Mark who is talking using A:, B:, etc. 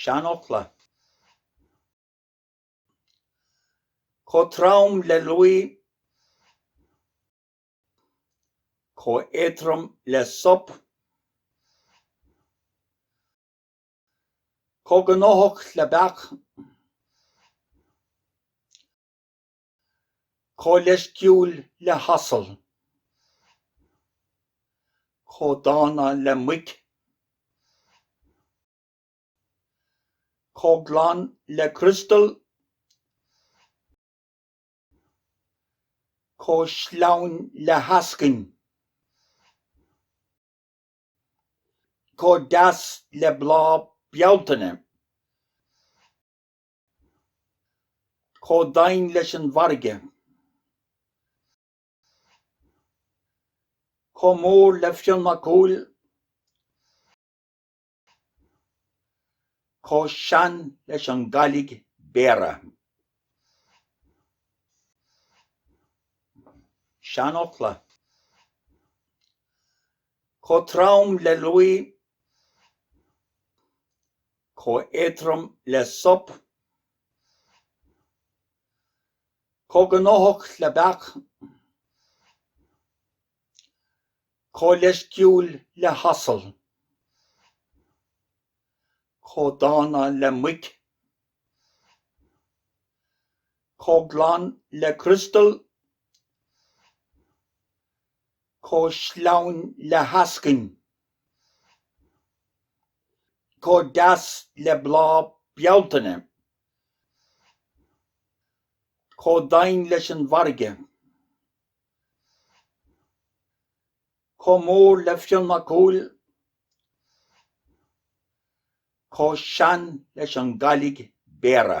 A: seanfhocla. Chomh trom le luaidhe, chomh héadrom le sop, chomh gnóthach le beach, Chomh leisciúil le hasal. Chomh dána le muic. Chomh glan le criostal. Chomh sleamhain le heascainn. Chomh deas le bláth Bealtaine. chomh domhain leis an bhfarraige, chomh mór le Fionn Mac Cumhaill, chomh sean leis an gCailligh Béarra. Seanfhocla, chomh trom le luaidhe chomh héadrom le sop, chomh gnóthach le beach, chomh leisciúil le hasal, chomh dána le muic, chomh glan le criostal, chomh sleamhain le heascainn. chomh deas le bláth Bealtaine, chomh domhain leis an bhfarraige, chomh mór le Fionn Mac Cumhaill, chomh sean leis an gCailligh Béarra.